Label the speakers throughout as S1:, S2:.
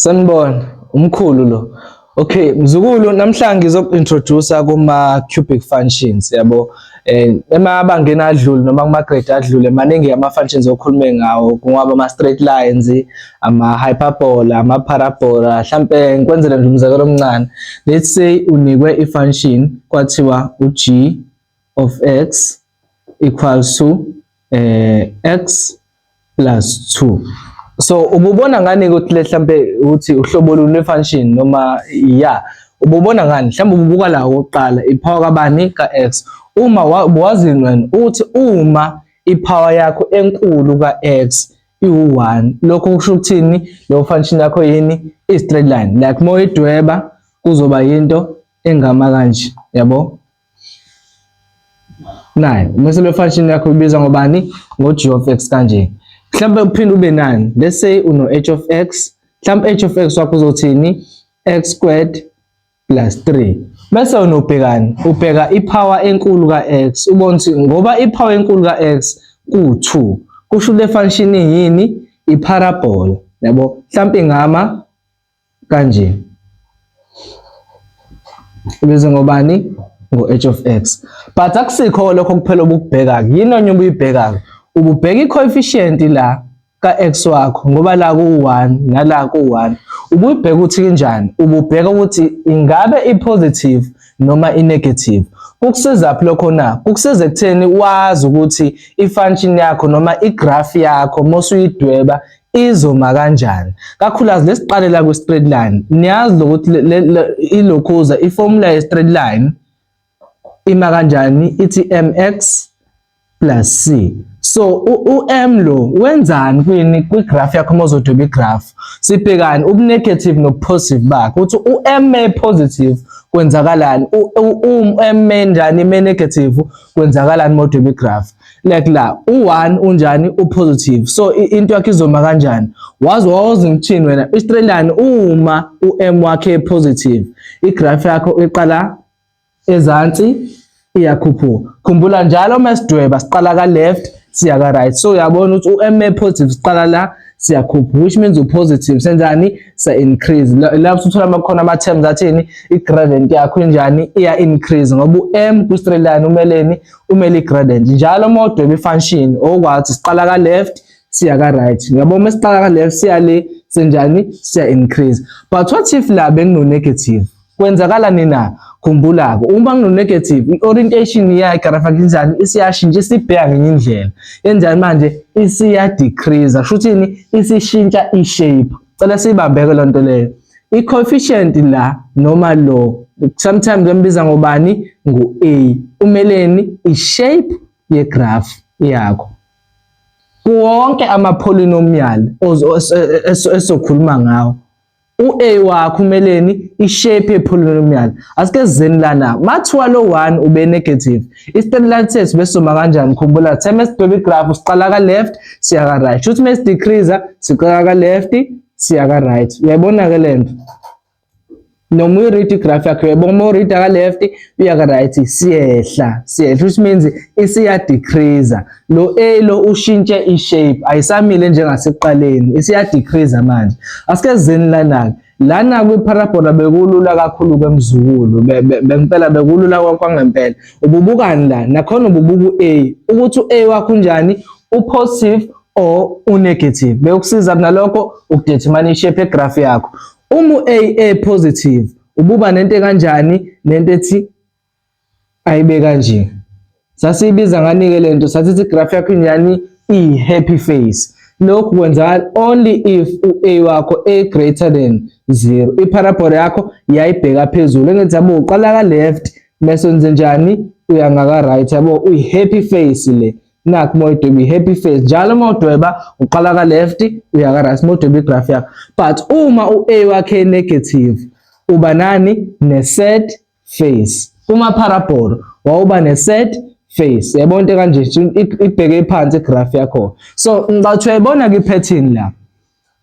S1: Sanibona, umkhulu lo. Okay, mzukulu namhlanje ngizokuintroduce kuma cubic functions yabo. Eh emabangeni adlule noma kuma grade adlule maningi ama functions okhulume ngawo kungaba ama straight lines, ama hyperbola, ama parabola. Mhlambe ngikwenzele nje umzekelo omncane. Let's say unikwe i function kwathiwa u g of x equals to eh x plus 2 so ububona ngani ukuthi mhlambe ukuthi uhlobo luni lwefunction noma ya ububona ngani mhlambe ububuka la oqala ipower kabani ka x uma wazi wena uthi uma ipower yakho enkulu ka x iwu1 lokho kusho ukuthini lo function yakho yini i straight line like moyidweba kuzoba yinto engama kanje yabo naye umeselo wefunction yakho ubiza ngobani ngo-g of x kanje mhlawumbe uphinde ube nani let's say uno-h of x mhlawumbe h of x wakho uzothini x squared plus 3 bese wena ubhekani ubheka ipower enkulu ka-x ubona ukuthi ngoba ipower enkulu ka-x ku-2 kusho ukuthi le function yini iparabola yabo mhlawumbe ingama kanje bese ngobani ngo-h of x but akusikho lokho kuphela obukubheka-ke yini onye ubuyibheka-ke ububheka i-coefficient la ka-x wakho ngoba la ku-one nala ku-one ubuyibheka ukuthi kunjani ububheka ukuthi ingabe i-positive noma i-negative kukusizaphi lokho na kukusiza ekutheni wazi ukuthi i-function yakho noma i-graph yakho mosuyidweba izoma kanjani kakhulukazi lesiqalela kwi straight line niyazi lokuthi ilokhuza i formula ye straight line ima kanjani ithi mx plus c so u-m lo wenzani kwini kwi-graph yakho uma uzodweba i-graph sibhekani ubunegative nobupositive bakhe ukuthi u-m may positive kwenzakalani u-m may njani may negative kwenzakalani modweba i-graph like la u-one unjani u-positive so into yakhe izoma kanjani wazi wawazi ngithini wena istrelani uma u-m wakhe positive igraph yakho iqala ezansi iyakhuphuka khumbula njalo uma sidweba siqala ka-left siya ka-right so uyabona ukuthi u-m positive siqala la siyakhupha which means upositive senzani sa increase la usuthola amakhona ama terms athini i gradient yakho injani iya increase ngoba u m ku straight line umeleni umele gradient njalo uma udweba ifunction okwathi siqala ka left siya ka right uyabo uma siqala ka left siya le senjani siya increase but what if la bengino negative kwenzakala nina khumbula ke uma ngino negative i orientation ya igraphic njani isiyashintsha isibheka ngenye indlela enjani manje isiya decrease shuthini isishintsha i shape cela siyibambeke loo nto leyo i-coefficient la noma lo sometimes bembiza ngobani ngu-a umeleni i-shape yegraph yakho kuwonke ama-polynomial esokhuluma ngawo u-a wakho umeleni i-shape ye-polynomial asike zeni lana mathiwa lo 1 ube-negative Eastern lenses besuma kanjani khumbula the mase baby graph siqala ka left siya ka right shuthi mase decrease siqala ka left siya ka right uyayibona ke lento noma uyi read graph yakho uyayibona uma read ka left uya ka right siyehla siyehla which means isiya decrease lo a lo ushintshe i shape ayisamile njengasekuqaleni isiya decrease manje asike zeni lana Lana kwiparabhola bekulula kakhulu kwemzukulu bempela bekulula kwangempela. Ububukani la nakhona ububuka u-A ukuthi u-A wakho unjani upositive or unegative. Bekusiza kunalokho ukudetermine ishape yegraph yakho. Uma u-A e positive ububa nento kanjani nento ethi ayibe kanje sasiyibiza ngani ke lento sathi si graph yakho inyani i happy face lokhu kwenzakala only if u-a wakho a greater than 0 iparabola yakho yayibheka phezulu engithi yabo uqala ka left mese wenze njani uya ngaka right yabo uyi happy face le nakho uma udweba i-happy face njalo uma udweba uqala ka left uya ka right uma udweba i-graph yakho but uma u-a wakhe negative uba nani ne-sad face uma parabolo wawuba ne set face yabona into kanje ibheke phansi graph yakho so ngicathu yayibona ki pattern la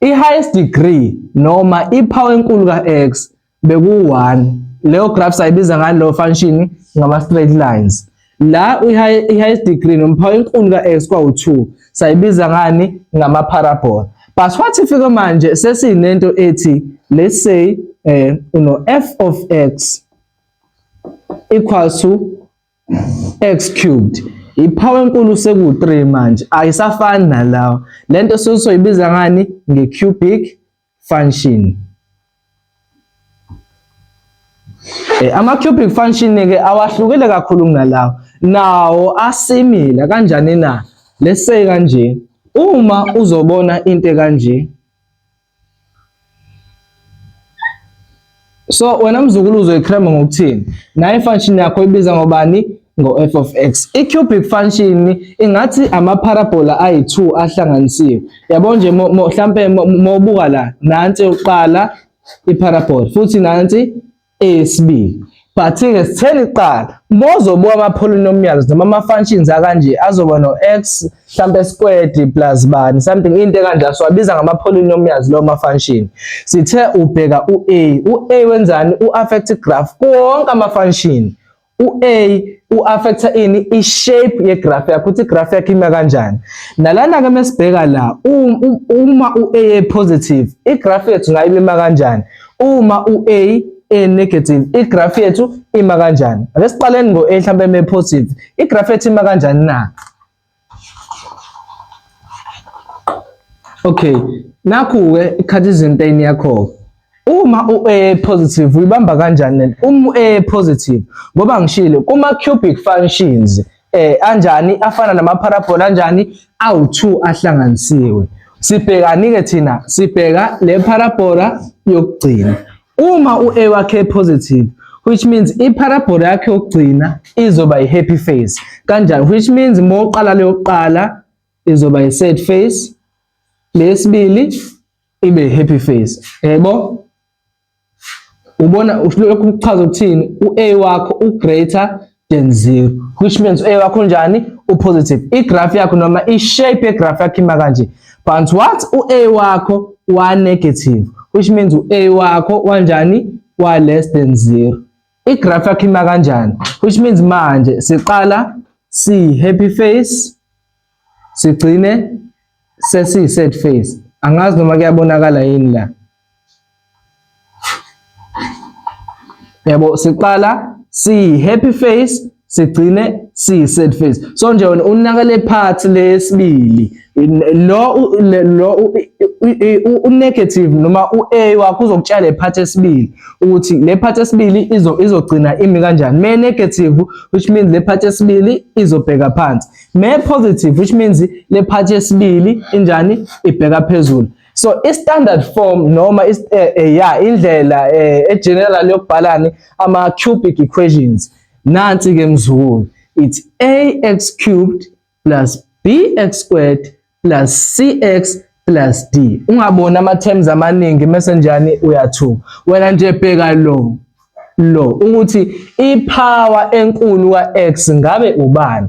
S1: i highest degree noma i power enkulu ka x beku 1 leyo graph sayibiza ngalo function ngama straight lines La i-highest degree nomphawu enkulu ka-x kwawu-2 sayibiza ngani ngama-parabola. But what if ke manje sesinento ethi let's say eh uno f of x equals to x cubed iphawu enkulu seku-3 manje ayisafani nalawa lento soyibiza ngani nge-cubic function Eh, ama-cubic function-ke awahlukile kakhulu kunalawo nawo asimila kanjani na let's say kanje uma uzobona into kanje So wena mzukulu uzoyicrema ngokuthini? Naye function yakho ibiza ngobani? ngo-f of x. I-cubic function ingathi amaparabola ayi-2 ahlanganisiwe. Yabo nje mhlampe mawubuka la, nansi yokuqala iparabola futhi nansi eyesibili. But-ke sitheni kuqala, mozobuka ama-polynomials noma ama-functions akanje azoba no-x mhlambe square plus bani something into ekanje siwabiza ngama polynomials lo ma function sithe ubheka u a u a wenzani u affect graph konke ama function u a u affect ini i shape ye graph yakho ukuthi graph yakho ima kanjani nalana ke mesibheka la uma u a positive i graph yethu ngayima kanjani uma u a e negative i graph yethu ima kanjani ake siqaleni ngo a mhlambe me positive i graph yethu ima kanjani na Okay, nakhu-ke i-Cartesian plane yakho-ke. Uma u-A positive uyibamba kanjani lento? Uma u-A positive ngoba ngishilo kuma-cubic functions eh anjani afana nama-parabola anjani awu-2 ahlanganisiwe. Sibhekani-ke thina? Sibheka le parabola yokugcina. Uma u-A wakhe positive which means i-parabole yakhe yokugcina izoba i-happy face. Kanjani? Which means uma uqala leyo kuqala izoba i-sad face, lesibili ibe i-happy face. Yebo? Ubona lokhu kuchaza ukuthini? U-A wakho u-greater than 0 which means a wakho njani upositive igraph yakho noma ishape yegraph yakho ima kanje but what u-a wakho wa-negative which means u-a wakho wanjani wa-less than 0 igraph yakho ima kanjani which means manje siqala si-happy face sigcine sesiyi set face angazi noma kuyabonakala yini la yabo siqala siyi happy face sigcine siyi sad face so nje wena unaka le part lesibili lo lo u negative noma u A wakho uzokutshela le part esibili ukuthi le part esibili izo izogcina imi kanjani me negative which means le part esibili izobheka phansi Me positive which means le part yesibili injani ibheka phezulu. So i standard form noma is eh, eh, yeah indlela eh, e general yokubhalani ama cubic equations. Nansi ke mzukulu it's ax cubed plus bx squared plus cx plus d ungabona ama terms amaningi mase njani uyathuka wena nje bheka lo lo ukuthi ipower enkulu kax ngabe ubani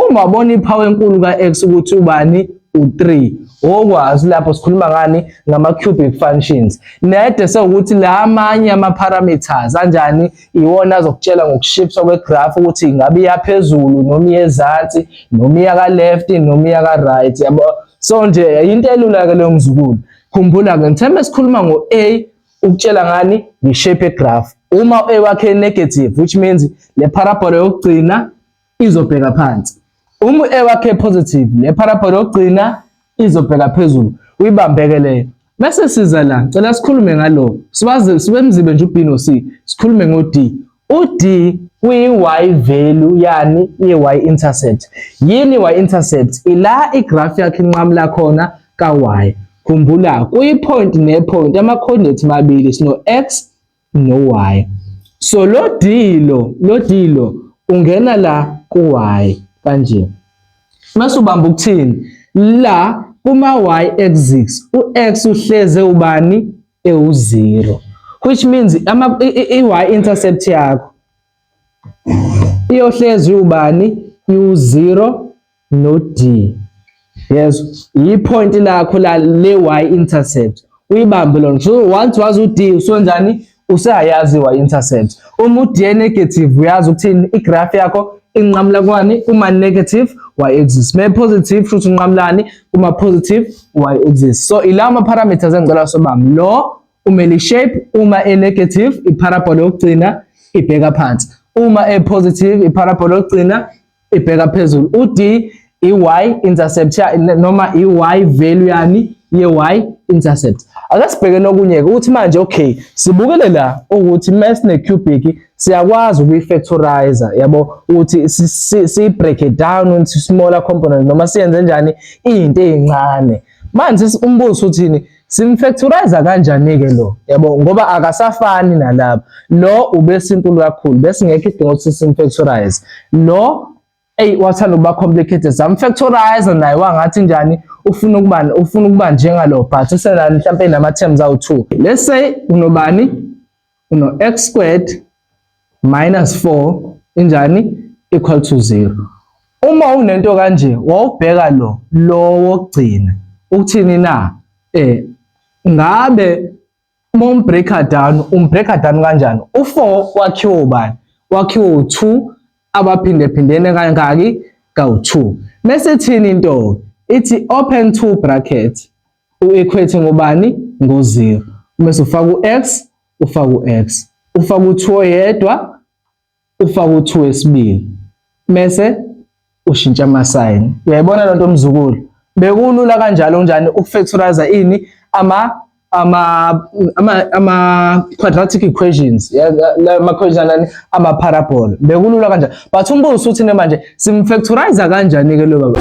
S1: uma ubona ipower enkulu kax ukuthi ubani u3 okwazi lapho sikhuluma ngani ngama cubic functions nede sewukuthi la amanye ama parameters anjani iwona azokutshela ngokushifthwa kwegraph ukuthi ingabe iya phezulu noma iya ezansi noma iya ka left noma iya ka right yabo so nje into elula ke leyo mzukulu khumbula ke ngithemba esikhuluma ngo A ukutshela ngani ngishape graph uma u A wakhe negative which means le parabole yokugcina izobheka phansi. Uma u-A wakhe positive, le parabole yokugcina izobheka phezulu. Uyibambeke leyo. Bese siza la, cela sikhulume ngalo. Sibaze sibe mzibe nje uB no C. Sikhulume ngo D. U D uyi-y value yani i-y intercept. Yini i-y intercept? Ila igraph yakhe inqamula khona ka-y. Khumbula kuyi-point ne-point ama-coordinate mabili sino-x no y so lo d lo lo d lo ungena la ku y kanje mase ubamba ukuthini la kuma y axis u x uhleze ubani ewu zero which means ama i y intercept yakho iyohlezi ubani u zero no D yezwa yipoint lakho la le y intercept uyibambe lona so once wazi ud usonjani useyayazi y intercept uma ud negative uyazi ukuthini igraph yakho inqamula kwani kuma negative y axis me positive futhi unqamulani kuma positive y axis so ilawo ma parameters engicela sobami lo umele shape uma e negative i parabola yokugcina ibheka phansi uma e positive i parabola yokugcina ibheka phezulu ud iy intercept noma iy value yani ye y intercept ake sibheke nokunye-ke ukuthi manje okay sibukele la ukuthi mesine cubic siyakwazi ukuyi-factorizer yabo ukuthi siyi-break it down into smaller component noma siyenze njani iy'nto ey'ncane manje umbuzo uthini Simfactorize kanjani-ke lo yabo ngoba akasafani nalaba lo ubesinkulu kakhulu besingekho idinga ukuthi simfactorize lo eyi wathanda ukuba complicated samfactorize naye wangathi njani ufuna ukuba ufuna ukuba njengalo but usenani mhlawumpe nama-terms awu-two let's say unobani uno-x squared minus 4 injani equal to 0 uma unento kanje wawubheka lo lo wokugcina ukuthini na eh ngabe uma umbreaker down umbreaker down kanjani u4 wakhiwa ubani wakhiwa u2 abaphinde phindene kangaki kawu2 mese thini into ithi open two bracket u-equate ngobani ngo-0 umese ufaka u-x ufaka u-x ufaka u-2 oyedwa ufaka u-2 wesibili mese ushintsha amasayini uyayibona lento mzukulu bekulula kanjalo kunjani ukufactorize ini ama ama ama ama quadratic equations ama equations ama parabol bekulula kanjalo but umbuzo usuthi ne manje simfactorize kanjani ke lo baba